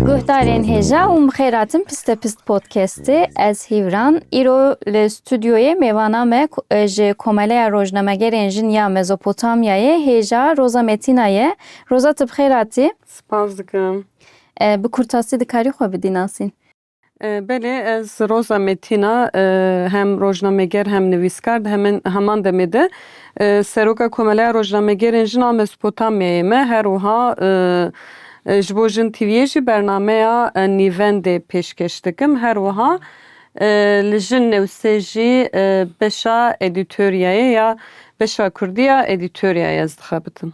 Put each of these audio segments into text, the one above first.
Guhdarên hêja û mixêratin Pistepist Podcastê ez Hîvran îro li studyoyê mêvana me ji Komeleya Rojnamegerên Jin ya Mezopotamyayê hêja Roza Metîna ye. Roza tu bi xêr hatî. Spas dikim. Bi kurtasî dikarî xwe bidî nasîn? Belê ez Roza Metîn a hem rojnameger hem nivîskar di hemin heman demê de Seroka Komeleya Rojnamegerên Jin a Mesopotamyayê me her wiha ji bo Jin TV'yê jî bernameya Nîvendê pêşkêş dikim her wiha li Jin Newsê jî beşa edîtoryayê ya beşa kurdî ya edîtoryayê ez dixebitim.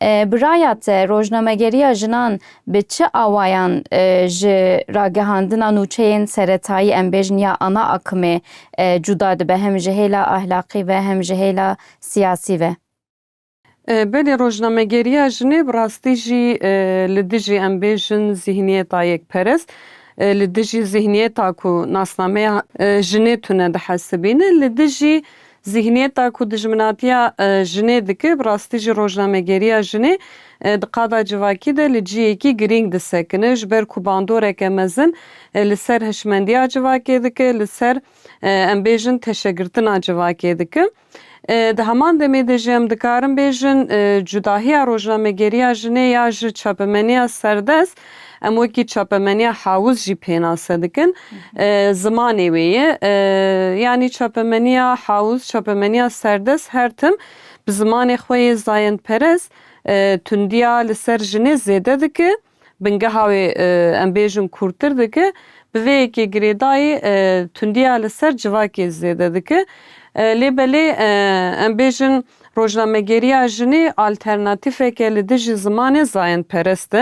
Bi raya te rojnamegeriya jinan bi çi awayan ji ragihandina nûçeyên seretayî em bêjin ya ana akimê cuda dibe hem ji hêla ahlaqî ve hem ji hêla siyasî ve? Belê rojnamegeriya jinê bi rastî jî li dijî em bêjin zîhniyeta yekperest, li dijî zîhniyeta ku nasnameya jinê tune dihesibîne, li dijî Zîhniyeta ku dijminatiya jinê dike, bi rastî jî rojnamegeriya jinê di qada civakî de li cihekî girîng disekine, ji ber ku bandoreke mezin li ser hişmendiya civakê dike, li ser em bêjin teşegirtina civakê dike. Di heman demê de jî em dikarin bêjin cudahiya rojnamegeriya jinê ya ji çapemeniya serdest Em wekî çapemeniya Hawuz jî pênase dikin, zimanê wê ye. Yanî çapemeniya Hawuz, çapemeniya serdest her tim bi zimanê xwe yê zayendperest tundiya li ser jinê zêde dike, bingeha wê em bêjin kûrtir dike. Bi vê yekê girêdayî tundiya li ser civakê zêde dike. Lê belê em bêjin Rojnamegeriya jinê alternatîfeke li dijî zimanê zayendperest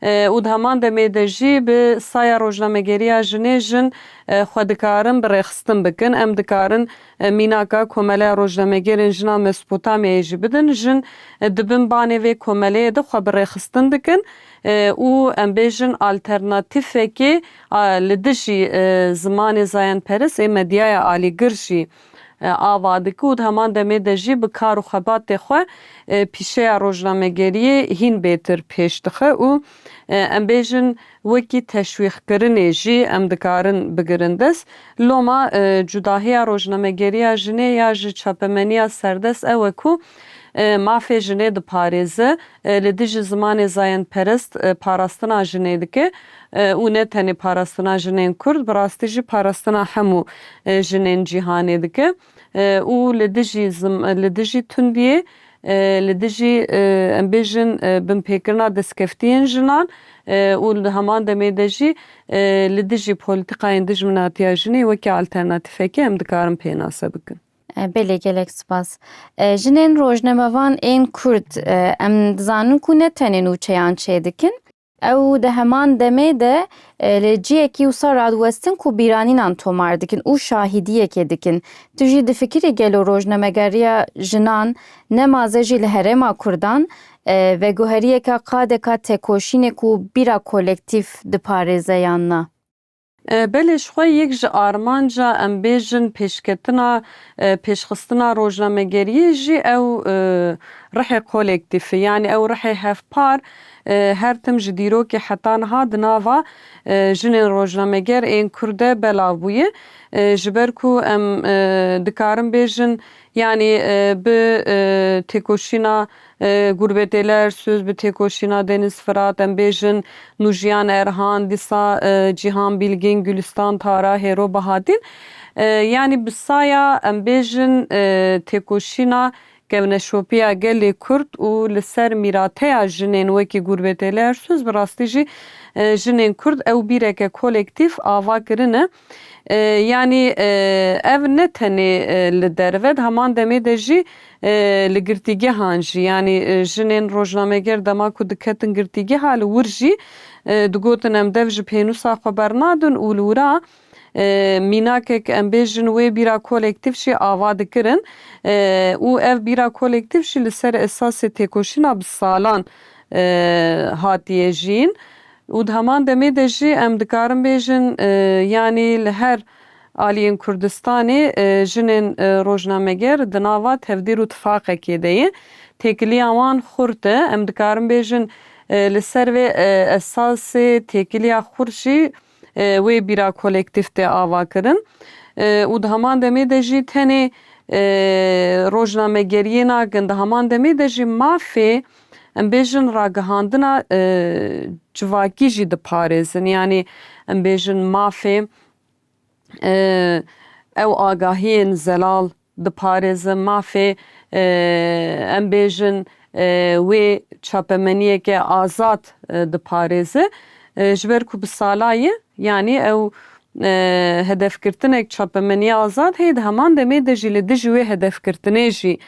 e û di heman demê de jî bi saya rojnamegeriya jinê jin xwe dikarin bi rêxistin bikin. Em dikarin mînaka Komeleya Rojnamegerên Jina Mesopotamyayê jî bidin. Jin di bin banê vê komeleyê de xwe bi rêxistin dikin û em bêjin alternatîfekê li dijî zimanê zayendperest ê medyaya alîgir jî ava dike û di heman demê de jî bi kar û xebatê xwe pîşeya rojnamegeriyê hîn bêtir pêş dixe û em bêjin wekî teşwîqkirinê jî em dikarin bigirin dest. Loma cudahiya rojnamegeriya jinê ya ji çapemeniya serdest ew e ku mafê jinê diparêze Li dijî zimanê zayendperest parastina jinê dike û ne tenê parastina jinên kurd bi rastî jî parastina hemû jinên cîhanê dike û li dijî li dijî tundiyê li dijî em bêjin binpêkirina destkeftiyên jinan û di heman demê de jî li dijî polîtîkayên dijminatiya jinê wekî alternatîfekê em dikarin pênase bikin. Belê gelek spas. Jinên rojnamevan ên Kurd em dizanin ku ne tenê nûçeyan çêdikin, ew di heman demê de li ciyekî wisa radiwestin ku bîranînan tomar dikin û şahîdiyekê dikin. Tu jî difikirî gelo rojnamegeriya jinan ne maze jî li herêma Kurdan veguheriyeke qadeka tekoşînê ku bîra kolektîf diparêze yan na? Belê ji xwe yek ji armanca em bêjin pêşketina pêşxistina rojnamegeriyê jî ew rihê kolektif e. Yanî ew rihê hevpar her tim ji dîrokê heta niha di nava jinên rojnameger ên Kurd de belav bûye. Ji ber ku em dikarin bêjin yanî bi têkoşîna Gurbetêler söz bi têkoşîna Deniz Firat em bêjin, Nûjiyan Erhan, Disa, Cîhan Bîlgîn, Gulîstan Tara, Hêro Bahatîn yanî bi saya em bêjin têkoşîna kevneşopiya gelê Kurd û li ser mîrateya jinên wekî Gurbetêler söz bi rastî jî jinên Kurd ew bîreke kolektîf ava kirine. Yanî ev ne tenê li derve di heman demê de jî li girtîgehan jî yanî jinên rojnameger dema ku diketin girtîgeha li wir jî digotin em dev ji pênûsa xwe bernadin û li wira mînakek em bêjin wê bîra kolektîf jî ava dikirin û ev bîra kolektîf jî li ser esasê têkoşîna bi salan hatiye jiyîn. Û di heman demê de jî em dikarin bêjin yanî li her aliyên Kurdistanê jinên rojnameger di nava tevdîr û tifaqekê de ye. Têkiliya wan xurt e. Em dikarin bêjin li ser vê esasê têkiliya xurt jî wê bîra kolektîf tê avakirin. Û di heman demê de jî tenê rojnamegeriyê nakin. Di heman demê de jî mafê Em bêjin ragihandina civakî jî diparêzin. Yanî em bêjin mafê ew agahiyên zelal diparêzin. Mafê em bêjin wê çapemeniyeke azad diparêzi. Ji ber ku bi salayê yanî ew hedefgirtinek çapemeniya azad heye di heman demê de jî li dijî wê hedefgirtinê jî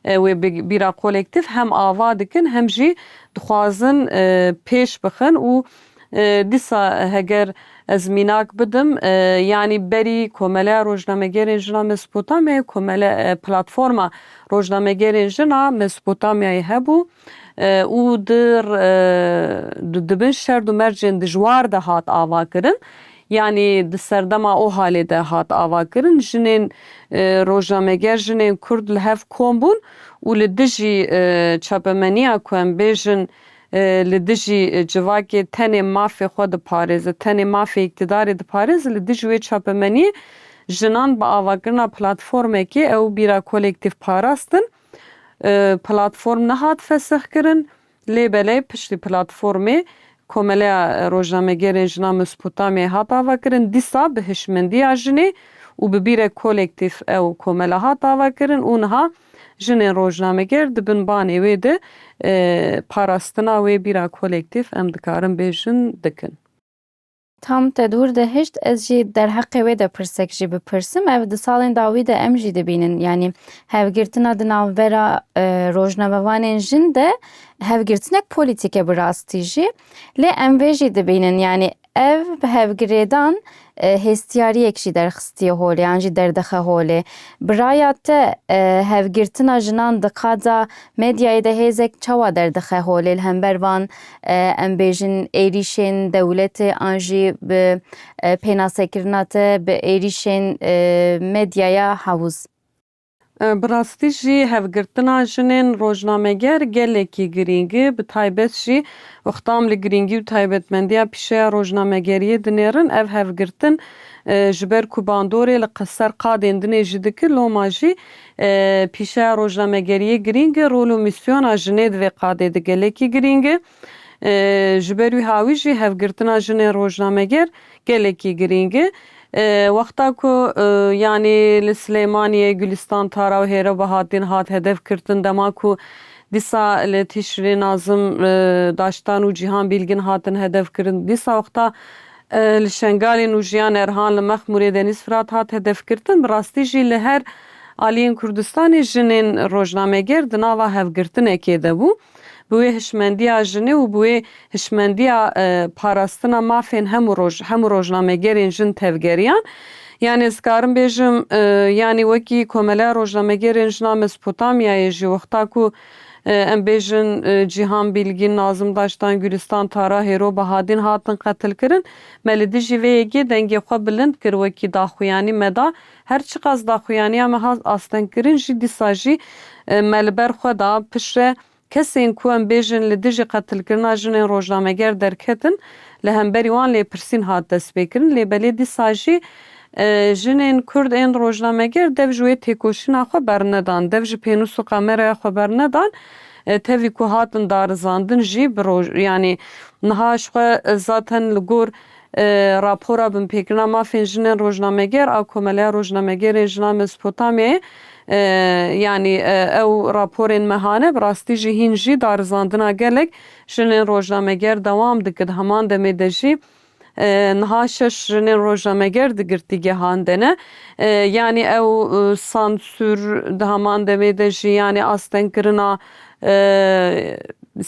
Wê bi bîra kolektîf hem ava dikin hem jî dixwazin pêş bixin û dîsa heger ez mînak bidim yanî berî Komeleya Rojnamegerên Jina Mesopotamyayê, Komele Platforma Rojnamegerên Jin a Mesopotamyayê hebû û di di bin şerd û mercên dijwar de hat avakirin Yanî di serdema Ohalê de hat avakirin, jinên rojnameger, jinên kurd li hev kom bûn û li dijî çapemeniya ku em bêjin li dijî civakê tenê mafê xwe diparêze, tenê mafê îktidarê diparêze, li dijî wê çapemeniyê jinan bi avakirina platformekê ew bîra kolektif parastin. Platform nehat fesixkirin. Lê belê piştî platformê Komeleya Rojnamegêrên Jina Mesopotamyayê hat avakirin, dîsa bi hişmendiya jinê û bi bîrek kolektîf ew komela hat avakirin û niha jinên rojnamegêr di bin banê wê de parastina wê bîra kolektîf em dikarin bêjin dikin. Tam te dûr dihişt ez jî derheqê wê de pirsek jî bipirsim, ev di salên dawî de em jî dibînin yanî hevgirtina di navbera rojnamevanên jin de hevgirtinek polîtîk e bi rastî jî lê em vê jî dibînin yanî ev hevgirêdan hêstiyariyek jî derxistiye holê an jî derdixe holê. Bi raya te hevgirtina jinan di qada medyayê de hêzek çawa derdixe holê li hember van em bêjin êrîşên dewletê an jî bi pênasekirina te bi êrîşên medyaya hewz. Bi rastî jî hevgirtina jinên rojnameger gelekî girîng e, bi taybet jî wexta em li girîngî û taybetmendiya pîşeya rojnamegeriyê dinêrin, ev hevgirtin ji ber ku bandorê li qeser qadên din ê jî dikir, loma jî Pîşeya rojnamegeriyê girîng e, rol û mîsyona jinê di vê qadê de gelekî girîng e. Ji ber wî hawî jî hevgirtina jinên rojnameger gelekî girîng e. Wexta ku yanî li Silêmaniyê Gulîstan Tara û Hêra Bahatdîn hat hedefgirtin, dema ku dîsa li Tîşrînê Nazim Daştan û Cîhan Bîlgin hatin hedefkirin, dîsa wexta Li Şengalê Nûjiyan Erhan li Mexmûrê Denîz Firat hat hedefgirtin, bi rastî jî li her aliyên Kurdistanê jinên rojnameger di nava hevgirtinekê de bû. Bi wê hişmendiya jinê û bi wê hişmendiya parastina mafên hemû roj hemû rojnamegerên jin tevgeriyan. Yanî ez karim bêjim yanî wekî Komeleya Rojnamegerên Jin a Mesopotamyayê ji wexta ku Em bêjin Cîhan Bîlgîn, Nazim Daştan, Gulîstan Tara, Hêro Bahadîn hatin qetilkirin. Me li dijî vê yekê dengê xwe bilind kir wekî daxuyanî me da. Her çiqas daxuyaniya me hat astengkirin jî dîsa jî me li ber xwe da. Piştre kesên ku em bêjin li dijî qetilkirina jinên rojnameger derketin li hemberî wan lêpirsîn hat destpêkirin lê belê dîsa jî Jinên Kurd ên rojnameger dev ji wê têkoşîna xwe bernedan, dev ji pênûs û kameraya xwe bernedan, tevî ku hatin darizandin jî bi roj yanî niha ji xwe zaten li gor Rapora Binpêkirina Mafên Jinên Rojnameger a Komeleya Rojnamegerên Jinan Mezopotamyayê yanî ew raporên mehane bi rastî jî hîn jî darizandina gelek jinên rojnameger dewam dikir di heman demê de jî Niha şeş jinên rojnameger di girtîgehan de ne. Yanî ew sansûr di heman demê de jî yanî astengkirina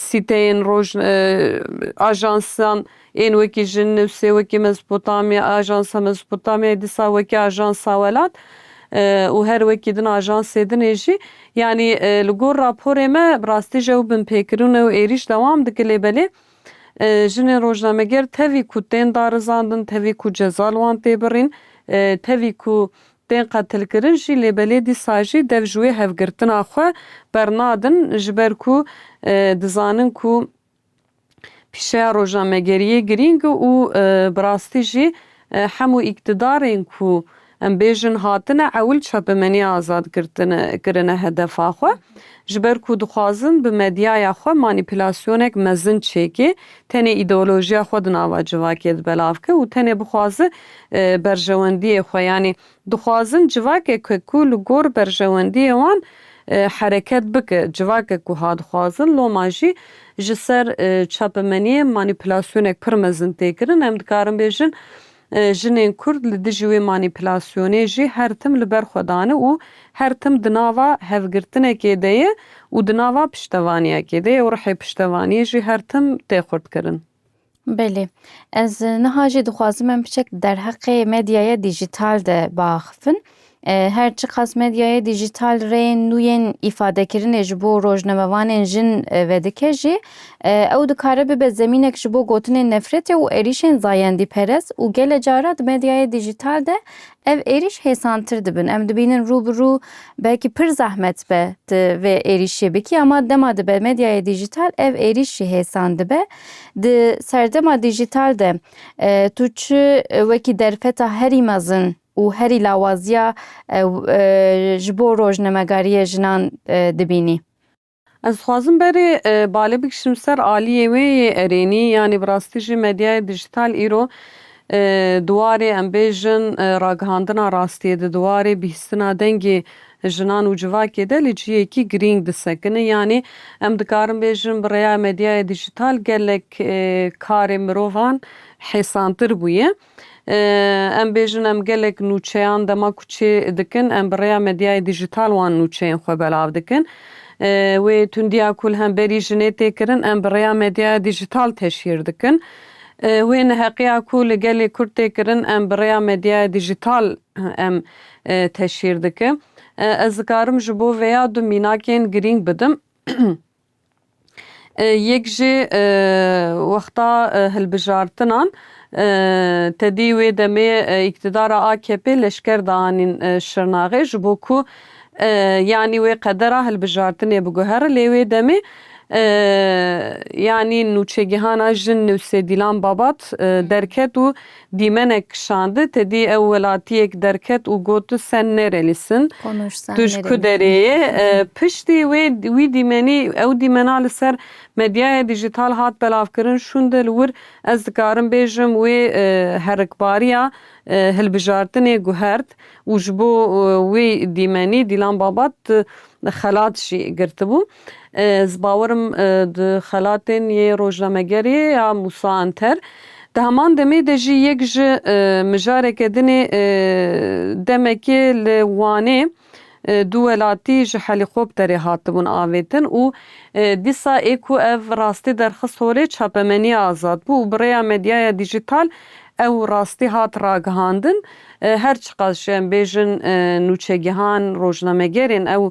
sîteyên roj ajansan ên wekî jin newsê wekî Mezopotamya ajansa Mezopotamyayê dîsa wekî ajansa welat û her wekî din ajansê din ê jî yanî li gor raporê me bi rastî ji ew binpêkirin û êrîş dewam dike lê belê Jinên rojnameger tevî ku tên darizandin, tevî ku ceza li wan tê birîn, tevî ku tên qetilkirin jî lê belê dîsa jî dev ji wê hevgirtina xwe bernadin ji ber ku dizanin ku pîşeya rojnamegeriyê girîng e û bi rastî jî hemû îktidarên ku Em bêjin hatine ewil çapemenî azad girtine kirine hedefa xwe, ji ber ku dixwazin bi medyaya xwe manîpülasyonek mezin çêkê, tenê îdeolojiya xwe di nava civakê di belav ke û tenê bixwazi berjewendiyê xwe yanî dixwazin civakek ke ku li gor berjewendiyê wan hereket bike, civakek ku ha dixwazin loma jî ji ser çapemeniyê manîpülasyonek pir mezin tê kirin, em dikarin bêjin Jinên Kurd li dijî wê manîpulasyonê jî her tim li ber xwe dane û her tim di nava hevgirtinekê de ye û di nava piştevaniyekê de ye û rihê piştevaniyê jî her tim tê xurtkirin. Belê. Ez niha jî dixwazim em biçek derheqê medyaya dîjîtal de biaxivin. Her çiqas medyaya dîjîtal rê nû yên îfadekirinê ji bo rojnamevanên jin vedike jî, ew dikare bibe zemînek ji bo gotinên nefretê û êrîşên zayendîperest û gele cara di medyaya dîjîtal de ev êrîş hêsantir dibin. Em dibînin rû bi rû belkî pir zehmet be tu vê êrîşê bikî ama dema dibe medyaya dîjîtal ev êrîş jî hêsan dibe. Di serdema dîjîtal de tu çi wekî derfeta herî mezin û herî lawaziya ji bo rojnamegariyê jinan dibînî. Ez dixwazim berê bale bikişim ser aliyê wê yê erênî yanî bi rastî jî medyaya dîjîtal îro di warê em bêjin ragihandina rastiyê de di warê bihîstina dengê jinan û civakê de li cihekî girîng disekine yanî em dikarin bêjin bi rêya medyaya dîjîtal gelek karê mirovan hêsantir bûye. Em bêjin em gelek nûçeyan dema ku çê dikin em bi rêya medyayê dîjîtal wan nûçeyên xwe belav dikin. Wê tundiya ku li hemberî jinê tê kirin em bi rêya medyaya dîjîtal teşhîr dikin. Wê neheqiya ku li gelê Kurd tê kirin em bi rêya medyaya dîjîtal em teşhîr dikin. Ez dikarim ji bo vêya du mînakên girîng bidim. Yek jî wexta hilbijartinan tedî wê demê îktidara akp leşker daanîn Şirnaxê ji bo ku yanî wê qedera hilbijartinê biguhere lê wê demê yanî nûçegihana jin Nusêdîlan Babat derket û Dîmenek kişandi, tedî ew welatiyek derket û got tu sen nerelîsin. Konuş sen nerelîsin. Tu ji ku derê yê? Piştî wê wî dîmenî ew dîmena li ser medyaya dîjîtal hat belavkirin şûnde li wir ez dikarim bêjim wê herikbariya hilbijartinê guhert û ji bo wê dîmenî Dîlan Babat xelat jî girtibû. Ez bawer im di xelatên yê rojnamegerê ya Mûsa Anter di heman demê de jî yek ji mijareke din ê. Demekê li Wanê du welatî ji helîkopterê hatibûn avêtin û dîsa ê ku ev rastî derxist holê çapemenî azad bû û bi rêya medyaya dîjîtal ew rastî hat ragihandin. Her çiqas jî em bêjin nûçegihan, rojnamegerên ew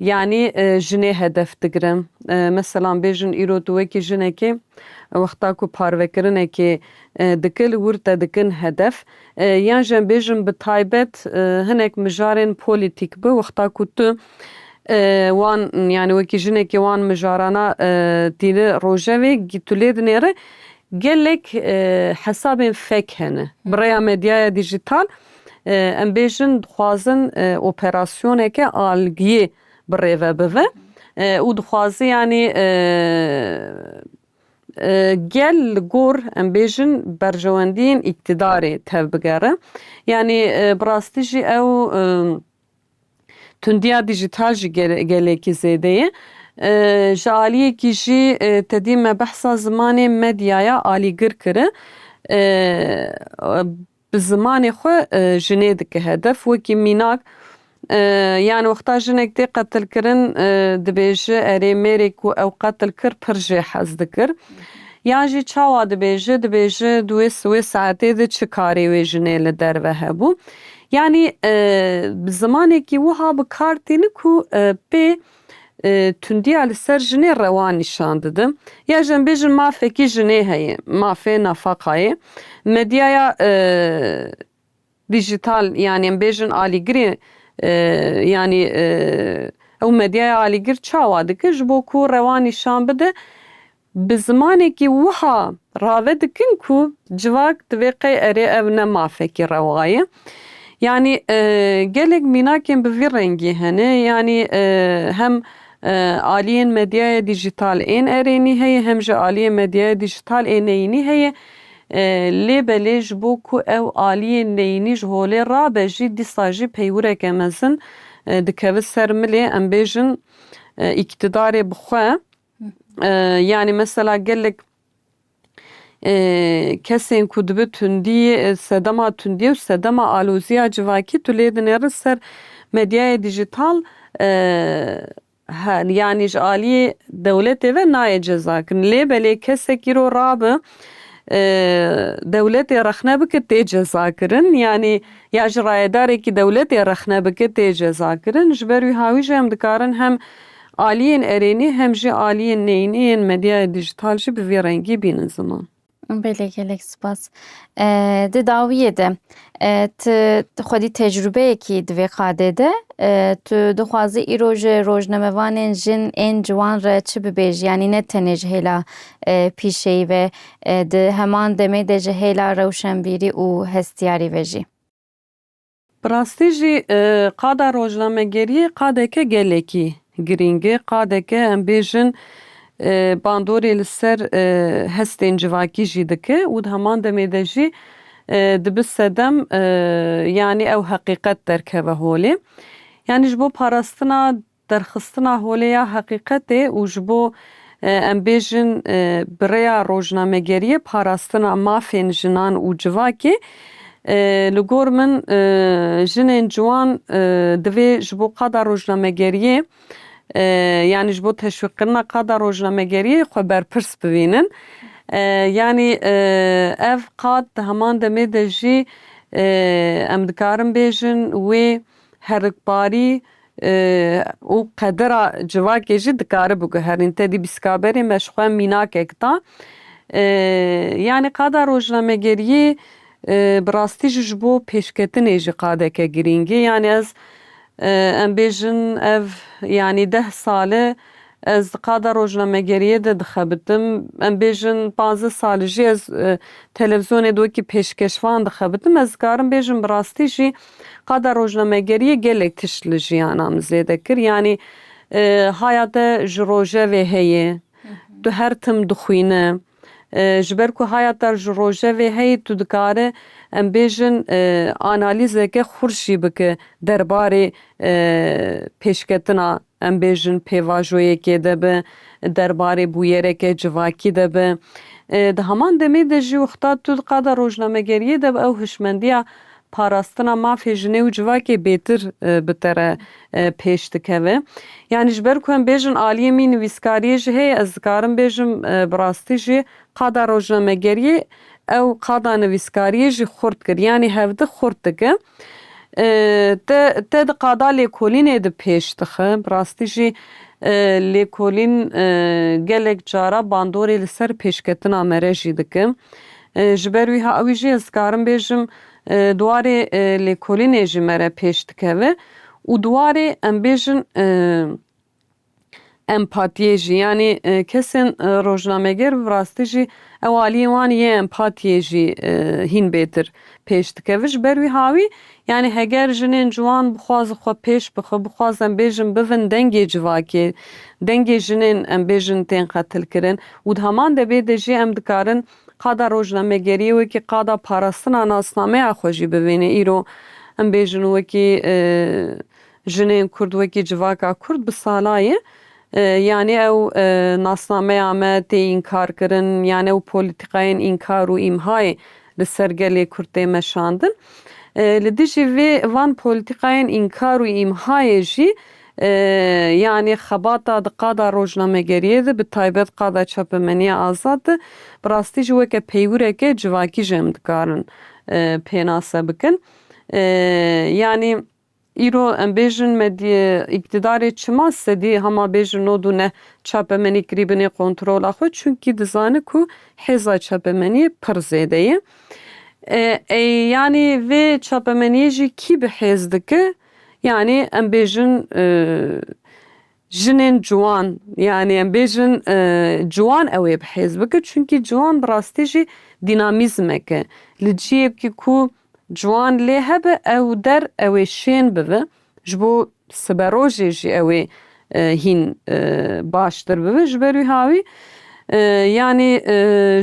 Yanî jinê hedef digire. Meselan bêjin îro tu wekî jinekê wexta ku parvekirinekê dike li wir te dikin hedef. Yan jî em bêjin bi taybet hinek mijarên polîtîk bi wexta ku tu wan yanî wekî jinekê wan mijarana dîni rojevê tu lê dinêri gelek hesabên fek hene. Bi rêya medyaya dîjîtal em bêjin dixwazin operasyoneke algiyê bi rêve bive û dixwaze yanî gel li gor em bêjin berjewendiyên îktîdarê tevbigere. Yanî bi rastî jî ew tundiya dîjîtal jî gelekî zêde ye. Ji aliyekî jî tedî me behsa zimanê medyaya alîgir kiri. Bi zimanê xwe jinê dike hedef wekî mînak yan wexta jinek tê qetilkirin dibêji erê mêrê ku ew qetil kir pir jê hez dikir yan jî çawa dibêji dibêji di wê wê saetê de çi karê wê jinê li derve hebû yanî bi zimanekî wiha bi kar tîni ku pê tundiya li ser jinê rewa nîşan didin. Ya ji em bêjin mafekî jinê heye, mafê nafaqayê. Medyaya dîjîtal yanî em bêjin alîgirê yanî ew medyaya alîgir çawa dike ji bo ku rewa nîşan bide? Bi zimanekî wiha rave dikin ku civak divê qey erê ev ne mafekî rewa ye. Yanî gelek mînakên bi vî rengî hene. Yanî hem aliyên medyaya dîjîtal ên erênî heye hem jî aliyên medyaya dîjîtal ên neyînî heye. Lê belê ji bo ku ew aliyên neyînî ji holê rabe jî dîsa jî peywireke mezin dikeve ser milê em bêjin îktidarê bi xwe. Yanî mesela gelek kesên ku dibi tundî sedema tundî û sedema alozîya civakî tu lê dinêrin ser medyayê dîjîtal yanî ji aliyê dewletê ve nayê cezakirin. Lê belê kesek îro rabe dewletê rexne bike tê cezakirin yanî ya ji rayedarekî dewletê rexne bike tê cezakirin. Ji ber wî hawî jî em dikarin hem Aliyên erênî hem jî aliyên neyînî yên medyaya dîjîtal jî bi vî rengî bînin ziman. Belê gelek spas. Di dawiyê de ti xwedî tecrûbeyekî di vê qadê de tu dixwazî îro ji rojnamevanên jin ên ciwan re çi bibêjî yanî ne tenê ji hêla pîşeyî ve di heman demê de ji hêla rewşenbîrî û hestiyarî ve jî. Bi rastî jî qada rojnamegeriyê qadeke gelekî girîng e, qadeke em bêjin bandorê li ser hestên civakî jî dike û di heman demê de jî dibi sedem yanî ew heqîqet derkeve holê. Yanî ji bo parastina Derxistina holê ya heqîqetê û ji bo em bêjin bi rêya rojnamegeriyê parastina mafên jinan û civakê, li gor min jinên ciwan divê ji bo qada rojnamegeriyê yanî ji bo teşwîqkirina qada rojnamegeriyê xwe berpirs bibînin. Yanî ev qad di heman demê de jî em dikarin bêjin wê. herikbarî û qedira civakê jî dikare biguherîn. Tedî Bîskaberê me ji xwe mînakek da. Yanî qada rojnamegeriyê bi rastî jî ji bo pêşketinê jî qadeke girîng e. Yanî ez em bêjin ev yanî deh sal e ez di qada rojnamegeriyê de dixebitim. Em bêjin panzdeh sal e jî ez televîzyonê de wekî pêşkeşvan dixebitim. Ez dikarim bêjim bi rastî jî Qada rojnamegeriyê gelek tişt li jiyana min zêde kir. Yanî haya te ji rojevê heye, tu her tim dixwîne. Ji ber ku haya te ji rojevê heye tu dikare em bêjin analîzeke xurt jî bike derbarê pêşketina Em bêjin pêvajoyekê de bi, der barê bûyereke civakî de bi. Di heman demê de jî Uxtad Tûl qada rojnamegeriyê de bi ew hişmendiya parastina mafê jinê û civakê bêtir bi te re pêş dikeve. Yanî ji ber ku em bêjin aliyê mî nivîskariyê jî heye ez dikarim bêjim bi rastî jî qada rojnamegeriyê ew qada nivîskariyê jî xurt kir. Yanî hevdi xurt dikin. Te te di qada lêkolînê de pêş dixe, bi rastî jî lêkolîn gelek cara bandorê li ser pêşketina me re jî dike. Ji ber wî ha wî jî ez dikarim bêjim di warê lêkolînê jî me re pêş dikeve û di warê em bêjin Empatiyê jî yanî kesên rojnameger bi rastî jî ew aliyên wan yê empatiyê jî hîn bêtir pêş dikeve. Ji ber wî hawî yanî heger jinên ciwan bixwazin xwe pêş bixin, bixwazin em bêjin bivin dengê civakê, dengê jinên em bêjin tên qetilkirin û di heman debê de jî em dikarin qada rojnamegeriyê wekî qada parastina nasnameya xwe jî bivêne. Îro em bêjin wekî. Jinên Kurd wekî civaka Kurd bi salayê yanî ew nasnameya me tê înkarkirin yanî ew polîtîkayên înkar û îmhayê li ser gelê Kurd tê meşandin. Li dijî vê van polîtîkayên înkar û îmhayê jî yanî xebata di qada rojnamegeriyê de bi taybet qada çapemeniya azad de bi rastî jî weke peywireke civakî jî em dikarin pênase bikin. Yanî Îro em bêjin medyê îktidarê çima sedî hema bêjin nod û neh çapemenî kirîbinê kontrola xwe çunkî dizani ku hêza çapemenî pir zêde ye. Ey yanî vê çapemenîyê jî kî bi hêz dike? Yanî em bêjin jinên ciwan yanî em bêjin ciwan ewê bi hêz bike çunkî ciwan bi rastî jî dînamîzmek e. Li ciyekî ku Ciwan lê hebe ew der ew ê şên bibe, ji bo siberojê jî ew ê hîn baştir bibe. Ji ber wî hawî yanî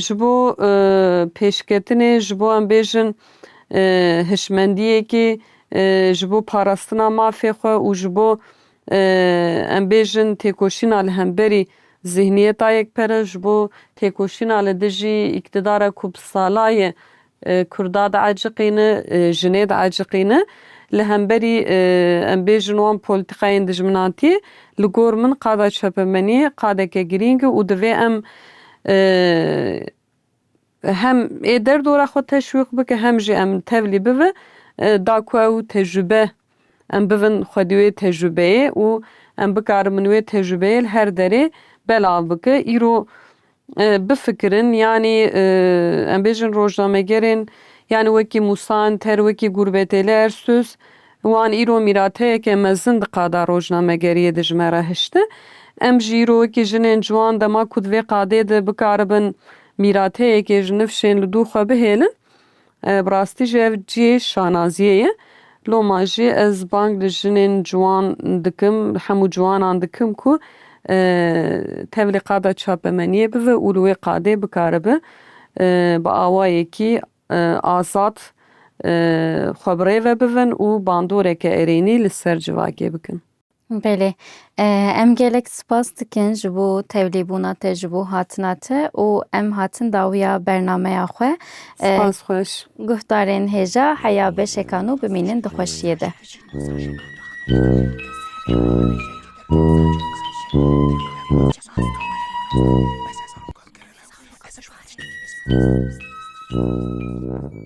ji bo pêşketinê, ji bo em bêjin hişmendiyekê, ji bo parastina mafê xwe û ji bo em bêjin têkoşîna li hemberî zîhniyeta yekpere, ji bo têkoşîna li dijî îktidara ku bi sala ye Kurda diaciqîne, jinê diaciqîne. Li hemberî em bêjin wan polîtîkayên dijminatiyê li gor min qada çepemeniyê qadeke girîng e û divê em hem ê derdora xwe teşwîq bike hem jî em tevlî bibe da ku ew tecrube Em bibin xwe di wê tecrûbeyê û em bikarin min wê tecrûbeyê li her derê belav bike. Îro bifikirin yanî em bêjin rojnamegerên yanî wekî Mûsan Ter, wekî Gurbetêli Ersûz wan îro mîrateyeke mezin di qada rojnamegeriyê de ji me re hişti. Em jî îro wekî jinên ciwan dema ku di vê qadê de bikaribin mîrateyekê ji nifşên li dû xwe bihêlin, Bi rastî jî ev cihê şanaziyê ye. Loma jî ez bang li jinên ciwan dikim, li hemû ciwanan dikim ku tevlî qada çapemeniyê bibe û li wê qadê bikaribe bi awayekî azad xwe bi rê ve bibin û bandoreke erênî li ser civakê bikin. Belê. Em gelek spas dikin ji bo tevlîbûna te, ji bo hatina te û em hatin dawiya bernameya xwe. Spas xweş. Guhdarên hêja heya beşeka nû bimînin di xweşiyê de. Thank you.